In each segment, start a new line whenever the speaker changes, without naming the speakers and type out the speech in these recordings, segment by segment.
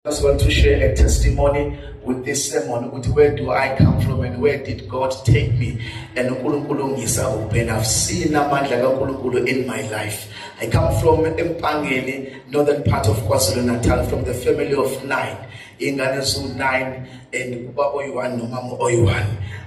I just want to share a testimony with this sermon ukuthi where do I come from and where did God take me and uNkulunkulu ngisa kuphi I've seen amandla kaNkulunkulu in my life I come from Empangeni northern part of KwaZulu-Natal from the family of 9 ingane zu 9 and ubaba oyi-1 nomama oyi-1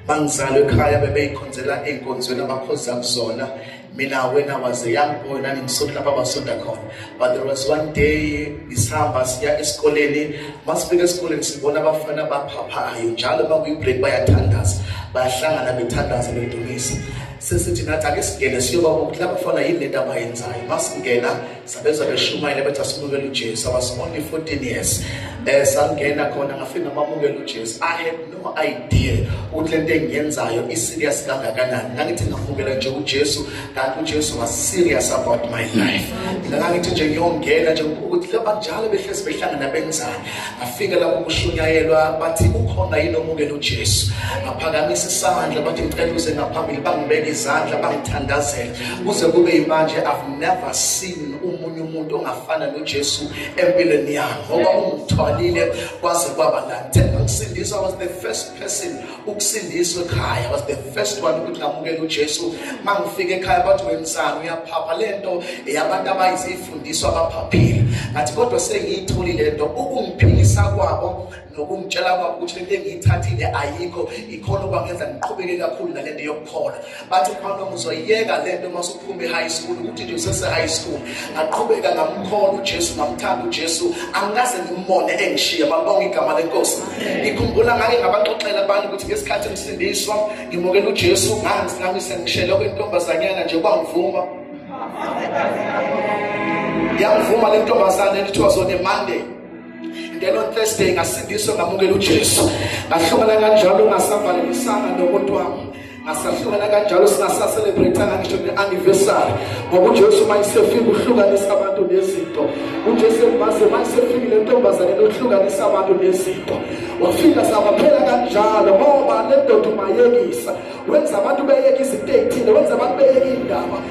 mangizalwe ekhaya bebeyikhonzela ey'nkonzweni abakhoza kuzona mina wena was a young boy nangimusuku lapha basonda khona but there was one day ngisihamba siya esikoleni masifika esikoleni sibona abafana abaphaphayo njalo bakuyibreak bayathandaza bayahlangana bethandaza bedumisa sesithi nathi ake singene siyoba ukuthi laba fana yini lento abayenzayo masingena sabeza beshumayela bethi asimukele ujesu i was only 14 years um sangena khona ngafika ngamamukela ujesu i had idea ukuthi lento engiyenzayo iserious kangakanani ngangithi ngafukela nje uJesu kanti uJesu was serious about my life mina ngangithi nje ngiyongena nje ukuthi laba njalo behlezi behlangana benzani ngafika lapho kushunyayelwa bathi ukhona yini omukela uJesu ngaphakamisa isandla bathi ngicela uze ngaphambili bangibeke izandla bangithandazela kuze kube imanje i've never seen umuntu ongafana noJesu empilweni yakhe ngoba ungithwalile kwaze kwaba la Themba ukusindiswa was the first person ukusindiswa ekhaya was the first one ukuthi ngamukela uJesu mangifika ekhaya bathi wemsana uyaphapha lento yabantu abayizifundiswa abaphaphile ngathi kodwa sengiyitholi lento ukungiphilisa kwabo nokungitshela kwabo ukuthi lento engiyithathile ayikho ikhona okwangenza ngiqhubeke kakhulu nalento yokukhola bathi ukhona uzoyiyeka le nto uma usuphuma e-high school ukuthi nje usese-high school ngaqhubeka ngamkhona ujesu ngamthanda ujesu angikaze ngimbone engishiye babonga igama lenkosi ngikhumbula ngake ngabaxoxela abantu ukuthi ngesikhathi emsindiswa ngimukela ujesu ngangami sengishele kwentombazanyana nje kwangivuma yangivuma le ntombazane elithiwa zone monday then on thursday ngasindiswa ngamukela ujesu ngahlukana kanjalo ngasavalelisana nomuntu wami ngasahlukana kanjalo singasaselebrethanga ngisho ne-anniversary ngoba ujesu uma isefika uhlukanisa abantu nezinto ujesu embaze uma isefikile ntombazane lokuhlukanisa abantu nezinto wafika sabaphela kanjalo ngoba le ndoda umayekisa wenza abantu beyeka izinto ey'thile wenza abantu beyeka iy'ndaba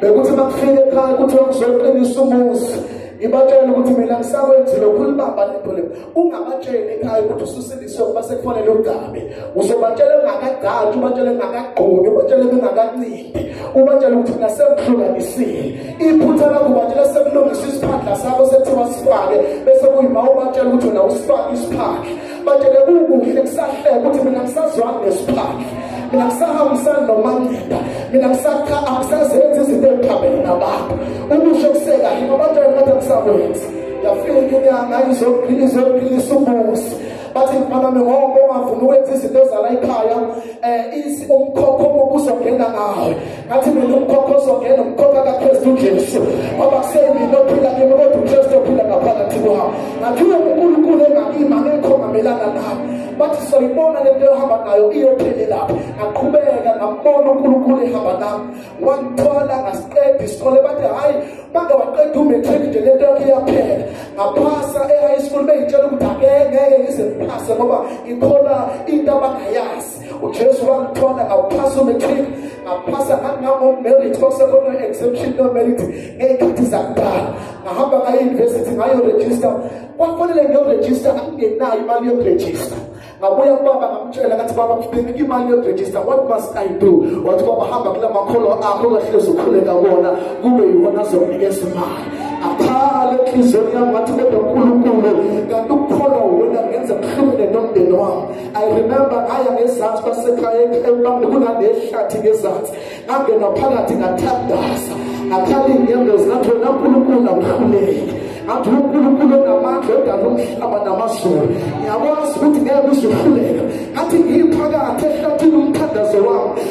bekuthi bakufike ekhaya ukuthi wakuzoqinisa umuzi ngibatshele ukuthi mina ngisakwenzile ukhulibamba lento le ungabatsheli ekhaya ukuthi ususilise ukuba sekufanele ugabe uzobatshela ungakagcatshi ubatshele ungakagqoki ubatshele ungakancindi ubatshele ukuthi nasekuhlukanisile iphutha lakho ubatshela sekulungisa isiphandla sakho sekuthiwa sifake bese kuyima ubatshela ukuthi wena usifake isiphandla manje ke kukuhle kusahleke ukuthi mina ngisazwanga ngesiphandla mina ngisahambisani nomangceba mina ngisakha angisazenzi izinto eziphambene nabantu ukusho kusekahle ngoba nje ngathi angisakwenzi yafika inyanga izophila izophilisa ubusi bathi mfana ngoba ungavumi ukwenza izinto zala ekhaya um umkhokho obuzongena ngawe ngathi mina umkhokha ozongena umkhokha kakristu ujesu ngoba kusemina ophila kimi kodwa ukristu ophila ngaphakathi kwami ngathi uye kunkulunkulu engakimi angekho ngamelana nami bathi soyibona le nto ehamba nayo iyophelelaphi ngaqhubeka ngambona unkulunkulu ehamba nami wangithwala ngasiqeda isikole bathi hhayi bake waqeda umatric nje le nto yakhe iyaphela ngaphasa e-high school beyitshela ukuthi angeke ngeke ngize ngiphase ngoba ngikhona into abangayazi ujesu wangithola ngawuphasa umetric ngaphasa ngangangomerit kwakusekhona exemption nomerit ngey'khathi zakudala ngahamba ngayi-university ngayorejista kwafanele ngiyorejista angingenayo imali yokurejista ngabuya kubaba ngamtshela ngathi baba ngibheke imali yokurejista what must i do wathi baba hamba kula makholo akho ungahlezi ukhuleka kona kube yiwona azokunikeza imali aphale enhliziyweni yami ngathi kodwa unkulunkulu kanti ukukholwa wena ngenza kuhlukene nomndeni wami I remember ngaya ngezansi kwasekhaya emkamni kunanehlathi ngezansi ngangena phakathi ngathandaza ngakhala iy'nyembezi ngathi wena nkulunkulu awuhluleki ngathi unkulunkulu onamandla odala umhlaba namazulu ngiyakwazi ukuthi ngeke uzuhluleka ngathi ngiphakathi ehlathini umthandazo wami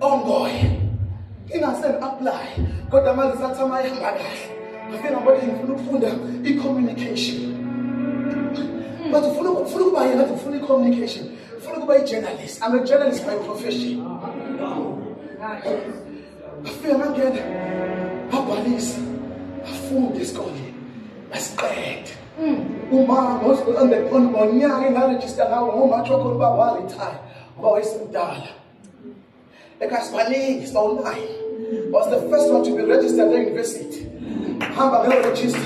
ongoye ingaseni apply kodwa manje sathi ama ihamba kahle ngifike ngabona ngifuna ukufunda i-communication hmm. but ufuna ufuna ukuba yena ngathi ufuna i-communication ufuna ukuba i-journalist i'm a journalist by profession ngafike ngangena ngabhalisa ngafunde esikoleni ngasiqede hmm. uma ngonyaka engarejista ngawo ngomatshokho uba walithayi uba wayesemdala ekasibaningi sibawunayo was the first one to be registered e-university hamba ngeyoregister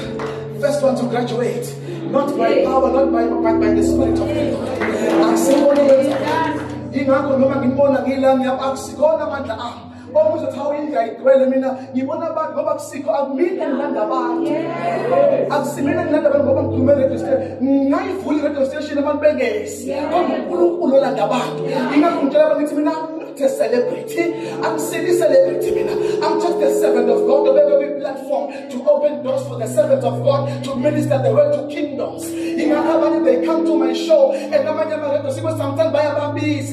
first one to graduate not by power not by, by, by the spirit of god akusiboni ingakho noma ngibona ngila ngiyaba akusikona amandla ami omuzothi awuyinja igcwele mina ngibona abantu ngoba kusikho akumina ngilanda abantu akusimina ngilanda abantu ngoba ngikhulume radio station ngingayivuli radio station abantu bengezi kodwa unkulunkulu olanda abantu ingakho ngitshela abantu ngithi mina not a celebrity. I'm city celebrity. I'm just a servant of God. The every platform to open doors for the servants of God to minister the word to kingdoms. In my they come to my show and I'm sometimes by a babies.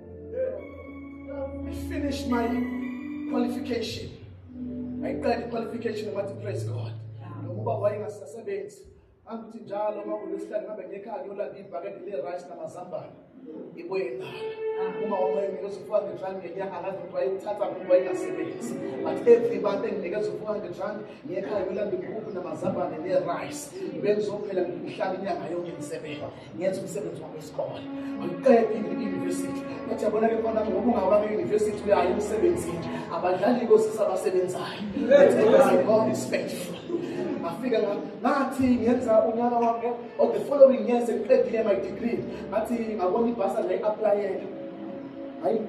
I finished my qualification. I got qualification of what to praise God. Ngoba wayengasasebenzi. Angithi njalo uma kulesihlanu ngabe ngekhaya ngiyolanda ibhakede le rice namazambane. Ibuye ngalo. Uma wonke nginikeza 400 rand ngenyanga ngazi ukuthi wayethatha ngoba wayengasebenzi. But every month enginikeza 400 rand ngekhaya ngiyolanda inkukhu namazambane ne rice. Bengizophela ngihlala inyanga yonke ngisebenza. ngenza umsebenzi wami wesikole angiqedi i-university ngathi yabona ke khona ngoba ungaba kwi-university uyayo emsebenzini abadlali kosisi abasebenzayo god is faithful ngafika ngathi ngenza unyaka wami or the following year sengiqedile my degree ngathi ngabona ibhasa ngayi-aplayela I,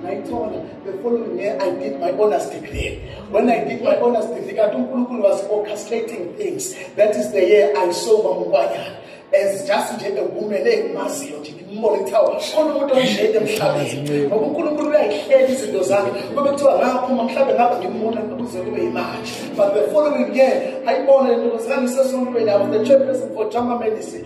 ngayithola the following year i did my honors degree when i did my honors degree kanti unkulunkulu was orchestrating things that is the year i saw mamukwanyana as just nje engumele engimaziyo nje ngimbone kuthiwa khona umuntu onjeni emhlabeni ngoba unkulunkulu uyayihlela izinto zakhe kube kuthiwa ngaphuma mhlawumbe ngabe ngimbona kuze kube yimanje but the following year ayibone le ntombazane isesontweni yabo the chairperson for jama medicine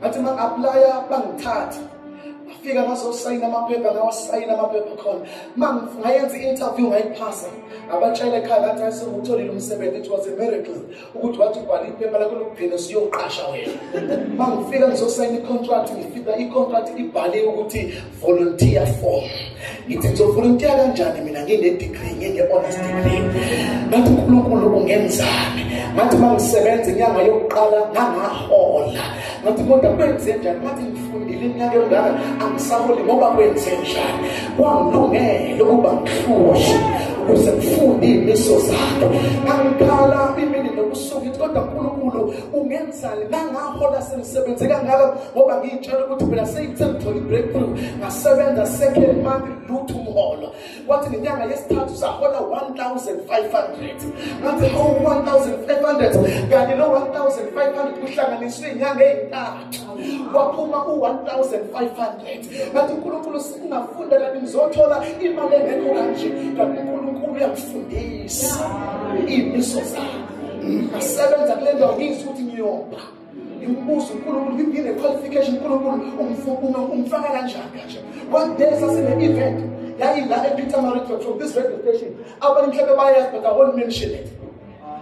ngathi ma aplaya bangithatha ngafika ngazosayina amaphepha ngawasayina amaphepha khona ma ngayenza i-interview ngayiphasa ngabatshela ekhaya ngathi ayisengutholile umsebenzi it was a miracle ukuthi wathi ubhala iphepha lakho lokugcina siyoqasha wena ma ngifika ngizosayina i-contract ngifika i-contract ibhaliwe ukuthi volunteer form ngithi ngizovolunteer kanjani mina ngine-degree ngine-honors degree ngathi unkulunkulu ungenzani ngathi uma ngisebenza inyanga yokuqala ngangahola ngathi kodwa kwenze njani ngathi ngifundile iminyaka engaka angisaholi ngoba kwenze njani kwangilungele ukuba ngihlushwe ukuze ngifunde iy'miso zakhe angikhala imini nobusuku ithi kodwa nkulunkulu ungenzani ngangahola sengisebenze kangaka ngoba ngiyitshela ukuthi phela seyithe ngithole i-breakthrough ngasebenza second month lutho umholo kwathi ngenyanga yesithathu sahola 1500 ngathi hawu 1500 kanti lo 1500 kuhlanganiswe inyanga eyintathu waphuma u-1500 ngathi unkulunkulu singafunda kanti ngizothola imali engekho kanje kanti unkulunkulu uyangifundisa imiso zakhe ngasebenza kule ndawo ngizwa ukuthi ngiyopha ngibuza unkulunkulu ngiphinde qualification unkulunkulu umfuna umfaka kanjani kanje one day sasine-event yayila epeter mariton from this radio station abantu mhlawumbe bayazi but i won't mention it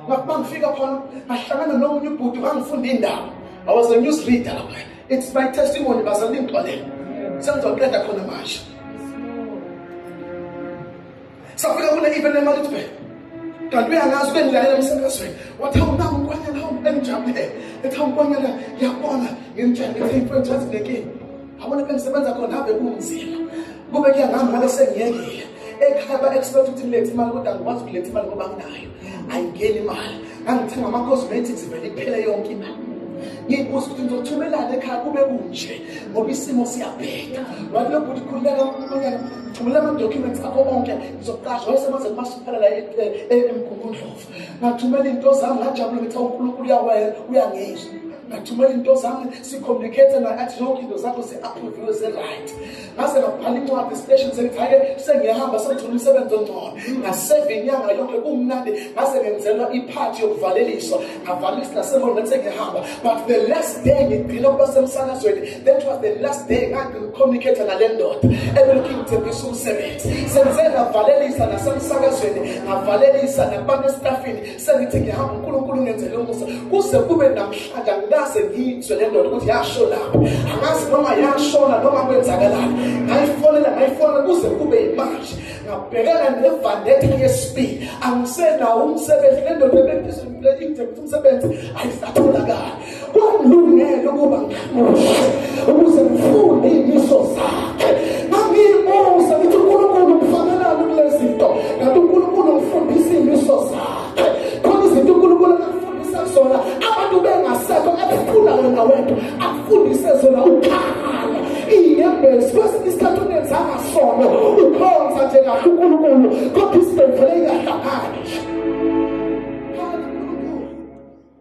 ngakubangifika khona ngahlangana nomunye ubhuti wangifunda indawo I was a news reader. It's my testimony bazali ngixolele. Sengizoqeda khona manje. Safika kule event eMalitube. Kanti uyangazi bengilalela emsebenzini. Wathi awunaku kwanyana hawu engijabule. Ethi hawu kwanyana ngiyabona ngimtshela ukuthi imfowethu yazi lenkinga. Abona bengisebenza khona habe kunzima. Kube kuyangami ngale sengiyekile. Ekhaya ba expect ukuthi ngilethe imali kodwa ngikwazi ukuletha imali ngoba nginayo. ayingeni imali ngangithenga ama-cosmetics vele iphele yonke imali ngiyibuzwa ukuthi ngizothumelana ekhaya kube kunje ngoba isimo siyabheda wathi lo bhuti khululeka unyana thumela ama-documents akho onke ngizoqasha wayesebenze kumasiphala la emgungundlovu ngathumela iy'nto zami ngajabule ngithi unkulunkulu uyangizwa ngathumela iy'nto zami sicommunicate naye athi zonke into zakho zi-approviwe zi-right ngase ngabhala incwadi esiteshini sengithaye sengiyahamba sengithola umsebenzi ongcono ngaseva inyanga yonke kumnandi ngase ngenzelwa iphathi yokuvaleliswa ngavalisa nasemolo ngathi sengiyahamba but the last day ngigcina ukuba semsakazweni that was the last day ngangicommunicate nale ndoda ebelokhu ingithembisa umsebenzi sengize ngavalelisa nasemsakazweni ngavalelisa nakubantu esitafini sengithi ngihamba uNkulunkulu ngenzele umusa kuze kube namhlanje angikaze ngizwe le ndoda ukuthi yasho lapho angazi noma yashona noma kwenzakalani ngayifonela ngayifonela kuze kube yimanje ngabhekana nevandetha yesibili angisenawo umsebenzi le ndoda ebephezu le idembe umsebenzi ayisatholakali kwangilungela ukuba ngihamuse ukuze ngifunde imiso zakhe ngangiyimusa ngithi unkulunkulu ngifanelani kule zinto ngathi unkulunkulu ngifundisa iy'miso zakhe khona izinto unkulunkulu akufundisa zona abantu bengasekho ekufuna wena wedwa akufundise zona ukhala iy'nyembezi kwesinye isikhathi unenzanga sono ukhonza nje kahle unkulunkulu kodwa isibhedlela ingahlangani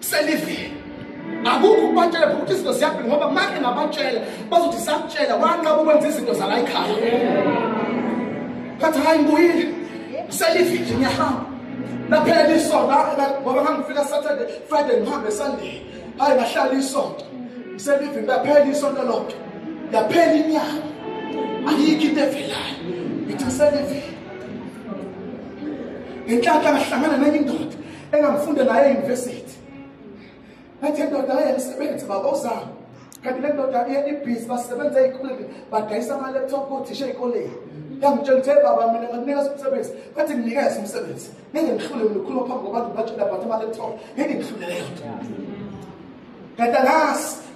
selivele akukho ukubatshela futhi izinto ziyaphila ngoba make ngabatshela bazothi sakutshela wanqaba ukwenza izinto zala ekhaya ngathi hayi ngibuyile selivile ngiyahamba naphela isonto ngoba ngangifika saturday friday ngihambe sunday hayi ngahlala isonto selivile laphela isonto lonke yaphela inyanga ayikho into evelayo ngithi selivile ngenhlanhla ngahlangana nenye indoda engangifunde naye euniversity ngathi ndoda aye msebenzi baba uzama kanti le ndoda iye ibhizi basebenza ey'koleni badayisa ama-laptop kothisha ey'koleni yangitshela ukuthi baba mina ngakunikeza umsebenzi ngathi nginikeza umsebenzi ngeke ngihlule mina ukhuluma phambi kwabantu ngibatshela but ama-laptop ngeke ngihlulele yona kanti angazi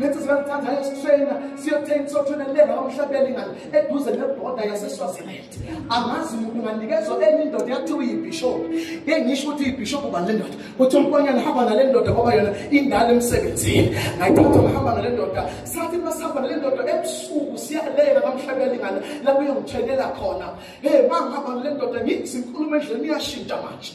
lethi siyakuthanda esikuswena siyothenga sothuna lenga omhlabeni ngale eduze neboda yaseswaziland angazi umuntu nganikezwa enye indoda yakuthiwa iyibhishophu ke ngisho ukuthi iyibhishophu ubani le ndoda kuthi umkonyana hamba nale ndoda ngoba yona indala emsebenzini ngayithatha ngihamba nale ndoda sathi masihamba nale ndoda ebusuku siyalenga kamhlabeni ngale lapho iyongithenela khona hey mangihamba nale ndoda ngithi inkulumo endleleni iyashintsha manje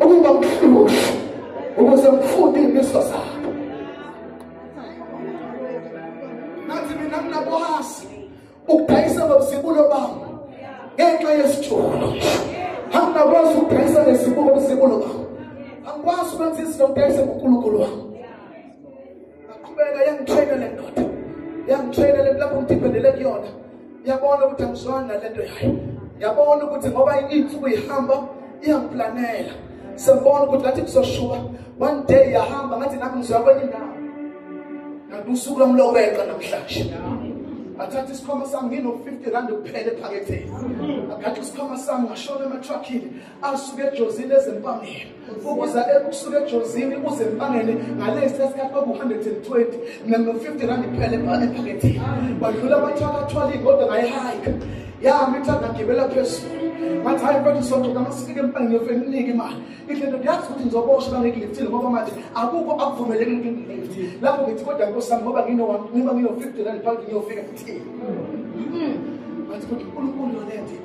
ukuba mhlushi ukuze ngifunde iy'miso zabo nathi mina nginakwazi ukudayisa nobuzibulo bami ngenxa yesitsholo angingakwazi ukudayisa nesibuko buzibulo bami angikwazi ukwenza izinto ngidayise ngonkulunkulu wami ngaqhubeka yangitraina le ndoda yangitraina le lapho ngidiphendele kuyona ngiyabona ukuthi angizwani nale nto yayo ngiyabona ukuthi ngoba insuku ihamba iyangiplanela sengibona ukuthi ngathi kuzoshuba one day yahamba ngathi nami ngizwa kwenye indawo ngathi usuku lwami lokweqa namhlanje athatha isikhwama sami ngino-fifty rand kuphela ephaketheni agathi isikhwama sami ngashona ematruckini asuke ejozini ezempangeni ukuza ebusuku ejozini uze mbangele ngalesi sesikhathi kwaku-120 nano-50 rand kuphela ephakethini wadlula amathakathwalini kodwa ngayihayika yami ithanda ngibela phezulu ngathi hayi mfethu sonto kama sifike empangeni yofeni unike imali ihle nto ndiyazi ukuthi ngizobosha bangikiliftile ngoba manje akukho akuvumeleki ukuthi ngilift lapho ngithi kodwa nkosi yami ngoba nginoba ngino-50 rand phakethini yofika kuthini ngathi kodwa unkulunkulu yonento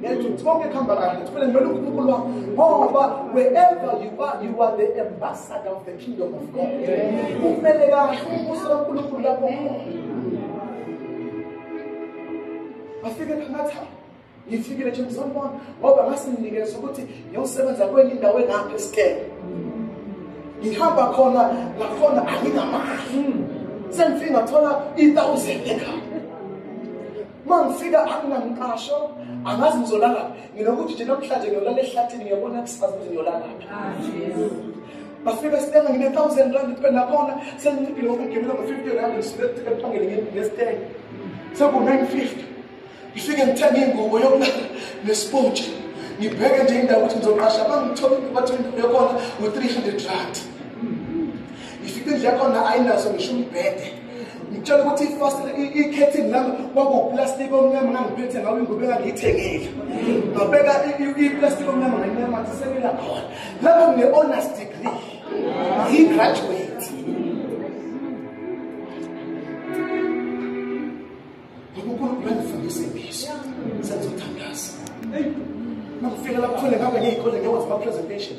Ngeke uthonge khamba kahle uthole ngimele uNkulunkulu wakho ngoba wherever you are you are the ambassador of the kingdom of God. Kumele kahle umbuso kaNkulunkulu lapho khona. Afike ngathi ngifikile nje ngizonibona ngoba ngasinginikeza ukuthi ngiyosebenza kwenye indawo engapha esikele. Ngihamba khona ngakhona anginamali. Sengifika ngathola i-thousand ekhaya. uma ngifika anginangiqasho angazi ngizola ngaphi nginokuthi nje namhlanje ngiyolala ehlathini ngiyabona kusifazi ukuthi ngiyola ngaphi ah, bafika sithenga ngine-thousand rand kube nakhona senginciphile ngokugemela ngo-fifty rand ngisuke ephangele ngesitenge seku-nine fifty ngifike ngithenge ingubo yokulala nesipotshi ngibheke nje indawo ukuthi ngizoqasha bangithole ingubo athi indawo yakhona ngu-three hundred rand ngifike indlu yakhona ayinaso ngisho umbhede ngitshela ukuthi ifasile ikhethini lami kwakuwuplastiki omnyama ngangiphethe ngawo ingubo engangiyithengile ngabeka iplastiki omnyama nganyamathisekela khona lapho ngine-honors degree ngiyigraduate unkulunkulu angifundise ngisho sengizothandaza makufika lapho khona ngabe ngiyikole ngiyowenza ama-presentation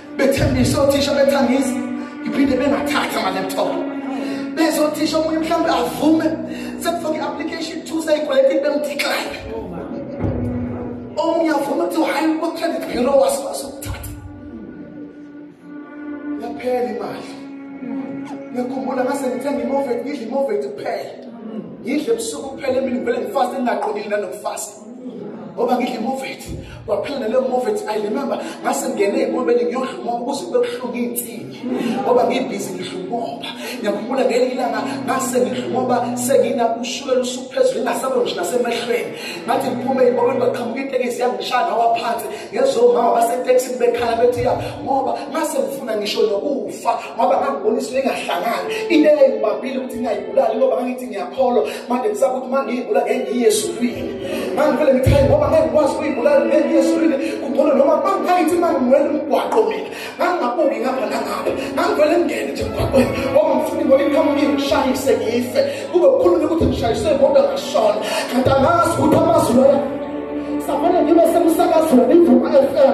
bethembisa othisha bethangisa iphinde bengathatha ama-laptop bezothisha omunye mhlawumbe avume sekufaka i-application two seyigweleti bemthixayo omunye avume kuthiwa hhayi kwa-credit bureau wasikwazi ukuthatha yaphela imali ngiyakhumbula ngase ngithenga imovet ngidla imovet kuphela ngidle ebusuku kuphela emini ngivele ngifase ngingaqondile nanokufasa ngoba ngidla imovethi kwaphela naleyo movethi i remember ngase ngingene ey'nkomeni ngiyodla umoba ukuze kube buhlungu iy'nsini ngoba ngibhizi ngidla umoba ngiyakhumbula ngeli ilanga ngase ngidla umoba senginakushukela usuku phezulu ingasalo nje nasemehlweni ngathi ngiphume ey'nkomeni kwaqhamuka itekisi yangishaya ngawa phansi ngezomama basetekisini bekhala bethi ya ngoba ngase ngifuna ngisho nokufa ngoba ngangibonisa lengahlangani into eyayibambile ukuthi ngingayibulali ngoba ngangithi ngiyakholwa manje kusaba ukuthi mangiyibula ngengiyezulwini mangivele ngichaye ngoba ngengikwazi ukuyibulala ngengiyezulwini kugcono noma mangiphakathi mangiwela umgwaqo mina ngangingabuki ngapha nangapha ngangivele ngingene nje emgwaqweni ngoba ngifuna imoto iqhamuka ingishayise ngife kube kukhulunywa ukuthi ngishayiswe imoto ngashona kanti angazi ukuthi amazwi loyo safanele ngibe semsakazweni ivuka fm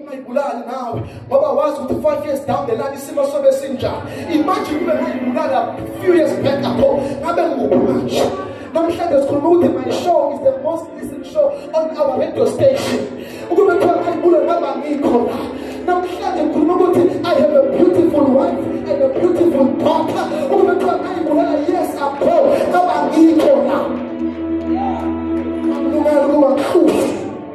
ungayibulali nawe ngoba wazi ukuthi u-five years down the line isimo sobe sinjani imagine ube ngayibulala few years back ago ngabe nguphi manje namhlanje sikhuluma ukuthi my show is the most listened show on our radio station ukube kuthiwa ngayibulala ngaba ngikho la namhlanje ngikhuluma ukuthi i have a beautiful wife and a beautiful daughter ukube kuthiwa ngayibulala yes akho ngaba ngikho la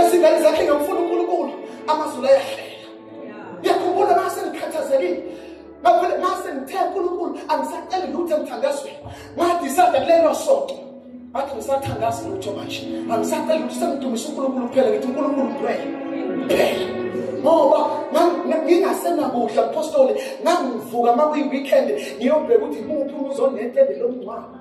izingane zakhe ngamfuna uNkulunkulu amazulu ayahlela ngiyakhumbula mase ngikhathazekile ngavele mase ngithe uNkulunkulu angisaceli lutho emthandazweni ngadisada kulelo sonto ngathi ngisathandaza lutho manje angisaceli lutho sengidumisa uNkulunkulu kuphela ngithi uNkulunkulu ngidwele kuphela ngoba ngingasenakudla apostoli ngangivuka uma kuyi-weekend ngiyobheka ukuthi muphi uzonetende lomngcwabo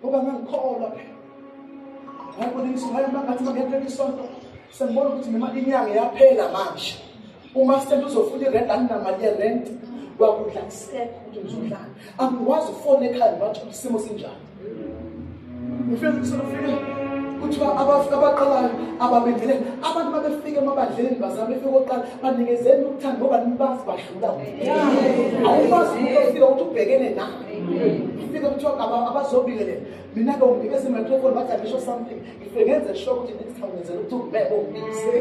ngoba ngangikholwa phela ngayibona imisuhayo mangathi mangentela isonto sengibona ukuthi noma inyanga yaphela manje uma sithethe uzofuna irent anginamali yerent kwakudla kusekho ukuthi ngizodlala angikwazi ukufona ekhaya ngibathi isimo sinjani ngifike ngisolofike kuthiwa abaqalayo ababendele abantu babefike emabandleni bazama befike oqala banikezeni ukuthanda ngoba nibazi badlula awubazi umuntu ofika ukuthi ubhekene nawe Ngifike kuthiwa aba- abazobingelela mina ke unginikeza imicrophone bathi angisho something ngifike ngenze sure ukuthi next time ngenzela ukuthi ungibeke ungibizele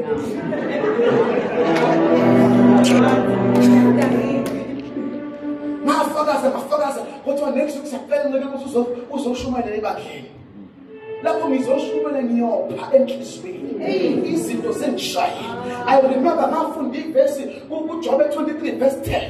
ngafakaza ngafakaza kodwa next week siyacela ncike ukuthi uzo- uzoshumayela ebandleni lapho ngizoshumayela ngiyopha enhliziyweni izinto zengishayile i remember ngafunda ivesi kujobe 23 verse 10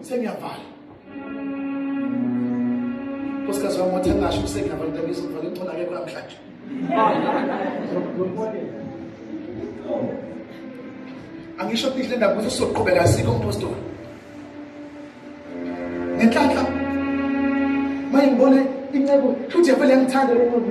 sengiyavala nkosikazi wami wathi angasho kusengiyavala ntabizo ngivale ngcono akekho namhlanje angisho pihle ndaba ukuthi sizoqhubeka asikho umphostoli ngenhlanhla mayengibone inceku futhi yavele yangithanda lomuntu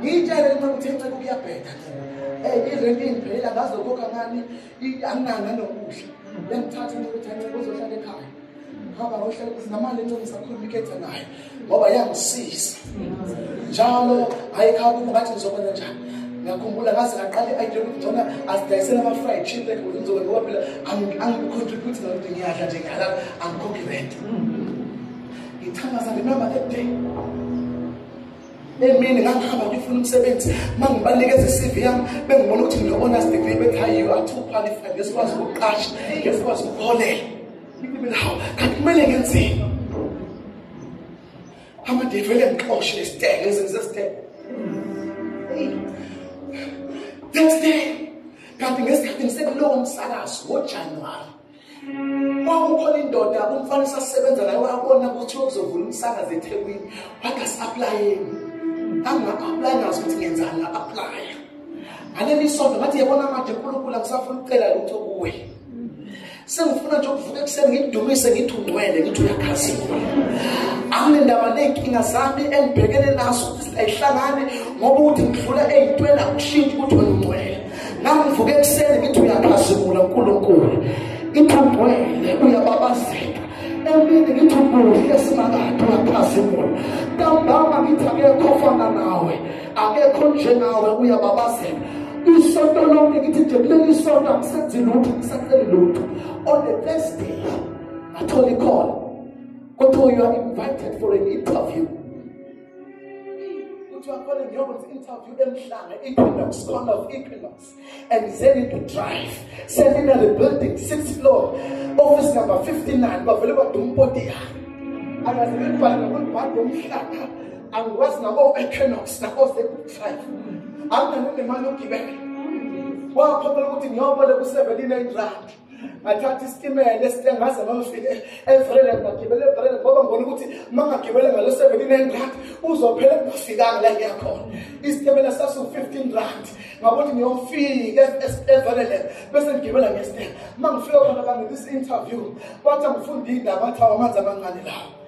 ngiyitshele noma ngithe nceke ukuyabheda eh irent ingiphelela ngazokhokha ngani anginanga nokudla yangithatha ukuthi nceke uzohlala ekhaya hamba ngohlala kuzinamali enceke ngisakhuluma ikhetha nayo ngoba yangisiza njalo ayikhaya kubo ngathi ngizokwenza njani ngiyakhumbula ngaze ngaqala i-idea ukuthi ngcona asidayisele ama-fried chicken ukuthi ngizobe ngoba phela angicontribute ngalokho ngiyadla nje ngiyalala angikhokhi rent ngithangaza ngenamba that day emini ngangihamba ngifuna umsebenzi uma ngibanikeza i-cv yami bengibona ukuthi ngino-honest degree bethi hayi you are too qualified ngesikwazi ukuqasha ngesikwazi ukuholela ngibile hawu kanti kumele ngenzeni amade vele ngixoshe isiteke ngizenze isiteke next day kanti ngesikhathi ngisekulowo msakazo ngojanuwari kwakukhona indoda umfana esasebenza naye wabona ukuthi uzovula umsakazi ethekwini wangasi-aplayeni anginga-aplayi ngazi ukuthi ngenzani nga-aplaya ngaleli sonto ngathi yabona manje unkulunkulu angisafuna ukucela lutho kuwe sengifuna nje ukuvuka ekuseni ngikudumise ngithi ungcwele ngithi uyakhazile anginendaba ney'nkinga zami engibhekene nazo ukuthi ayihlangane ngoba ukuthi ngidlula ey'ntweni akushintshi ukuthi wena ungcwele ngangivuke ekuseni ngithi uyaphazimula uNkulunkulu ithambwele uyababazeka emini ngithi ubuhle simakade uyaphazimula ntambama ngithi akekho ofana nawe akekho njengawe uyababazeka isonto lonke ngithi nje kuleli sonto angisenzi lutho ngisaceli lutho on the first day ngathola ikhona kodwa you are invited for an interview ukuthi wakhona ngiyokwenza interview emhlanga equinox corner of equinox and then into drive seminary building six floor office number 59 bavele badumpoti yami akaze ngibhale nokubhala ngomhlanga angikwazi nabo equinox nabo sekuthi drive anginanemali yokugibela wakhopela ukuthi ngiyoboleka u-17 rand ngathatha isitimela esitengaze mamfike evrele ngagibela evrele ngoba ngibona ukuthi uma ngagibela ngalo seventeen nine rand uzophela kungafikanga la ngiyakhona isitimela sasiwu-fifteen rand ngakuthi ngiyofika evrele bese ngigibela ngesitela uma ngifika khona kangenisa i-interview kwathi angifunda iy'ndaba athi awamanzi amancane lawo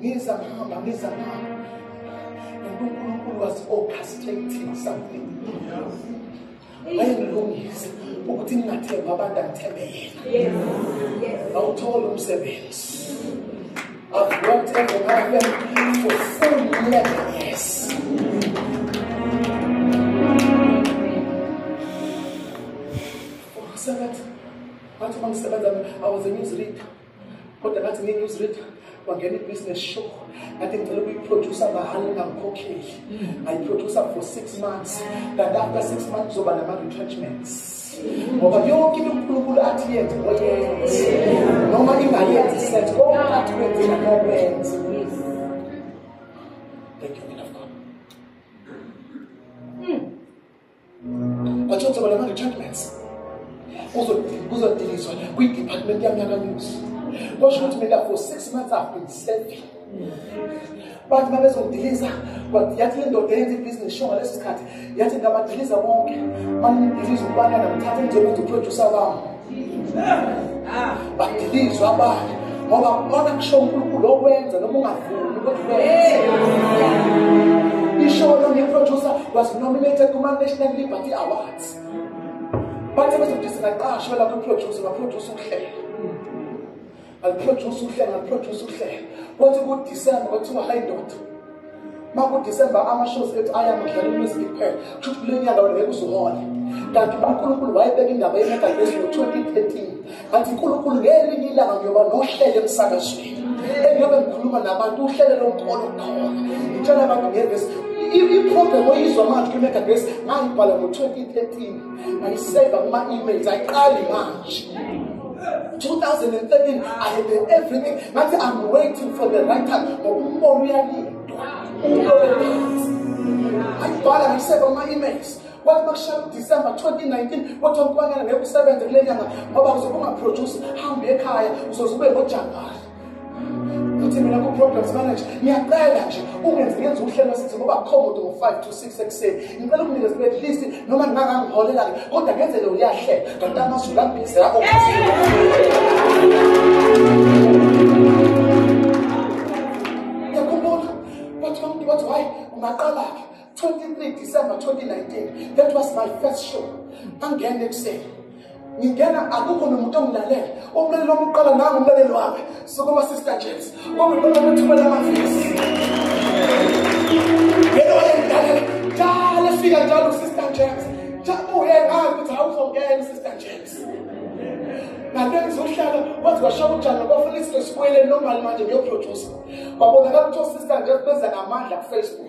ngiza ngihamba ngiza ngihamba and unkulunkulu was orchestrating something wayengilungisa ukuthi ngingathembi abantu angithembe yena awuthole umsebenzi I've worked in the government for four years. For seven, I was a newsreader. kodwa ngathi ngi-news reader wangena i-business show ngathi ngicela ukuyiproducer mahhala ngingangikhokheli mm. ngayiproducer for six months kanti after six months kuzoba nama-retrenchments ngoba yonke into unkulunkulu athi yenze oyenze noma ingayenzi senze konke athi kwenzela nokwenze But what's about the judgments? Kuzodilizwa kwi-department yami yakamuzi. Kwasho ukuthi mina for six months I've been serving. But my best diliza but yathi le ndoda eyenza ibhizinisi sho ngaleso sikhathi yathi ngabadiliza bonke manidiliza ukubana namthatha njengokuthi uproducer bami badilizwa abanye ngoba kona kusho unkulunkulu okwenza noma ungavumi ukuthi wenze isho lo ngiproducer was nominated kuma-national liberty awards bathe bezokuthi singaqashwa lapho iproducer baproduce ukuhlela Ngiproduce uhlelo, ngiproduce uhlelo. Kwathi kuDisemba kwathiwa hayi ndoda. Makudisemba ama-shows ethu ayamadlala umusic kuphela. Kusho ukuthi kule nyaka wena ngeke uzuhole. Kanti uNkulunkulu wayebeka indaba yemegalesi ngo-2013. Kanti uNkulunkulu ngelinye ilanga ngiyoba nohlelo emsakazweni. Engiyobe ngikhuluma nabantu uhlelo lonkolo khona. Ngitshela abantu ngevesi iprogram oyizwa manje kwi-mega grace ngayibhala ngo-2013 ngayiseva kuma-emails ayiqali manje 2013 I had done everything ngathi I'm waiting for the right time ngoba umbono uyalindwa ulolephansi ayibhala ngisebe ama-emails wathi makushaya udisemba 2019 wathi wamkwakela ngeke usebenze kule nyanga ngoba uzobe ungaproduce hambe ekhaya uzoze ube ngojanuwari ukuthi mina ku-programs manager ngiyacela nje ungenze ngenze uhlelo sithi ngoba khomode ngo-five to six ekuseni ngicela ukunike sibe at least noma ngingangangiholela-ke kodwa ngenzele uyahlela kanti amazulu ambhizi yakho 23 December 2019 that was my first show angene ekuseni ngingena akukho nomuntu ongilalela umlaleli wami uqala nangu umlaleli wami sukuma sister james kwakuyibona ukuthumela amavesi yena wayengilalela njalo efika njalo usister james jabuye ngazi ukuthi awuzongena usister james ngale ngizohlala waze washaya utshani kwafuna isinto sibuyele normal manje ngiyoproducer kwabonakala ukuthi osister james benza ngamandla kufacebook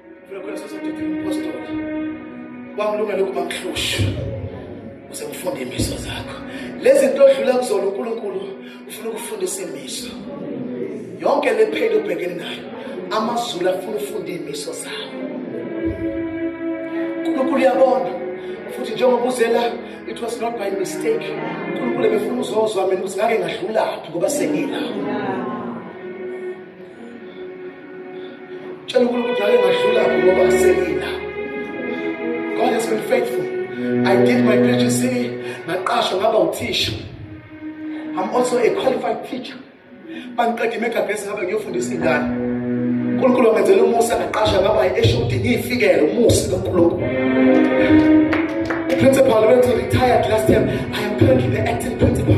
kwamlungela ukuba mhlushwe uze ngifunde imiso zakho lezi nto odlula kuzona unkulunkulu ufuna ukufundisa imiso yonke le pheli ubhekene nayo amazulu afuna ufunda iy'miso zawo unkulunkulu uyabona futhi njengoba uzela it was not by mistake unkulunkulu ebefuna uzozwa mina ukuthi ngake ngadlulaphi ngoba sengilapho Tshela uNkulunkulu ngake ngadlula ngoba sengina. God has been faithful. I did my PhD, ngaqashwa ngaba uthisha. I'm also a qualified teacher. Bangiqede imegabhesi ngabe ngiyofundisa ingane. uNkulunkulu wangenzela umusa ngaqasha ngaba i-HOD ngiyifikele umusa kaNkulunkulu. The principal went to retired last time. I am currently the acting principal.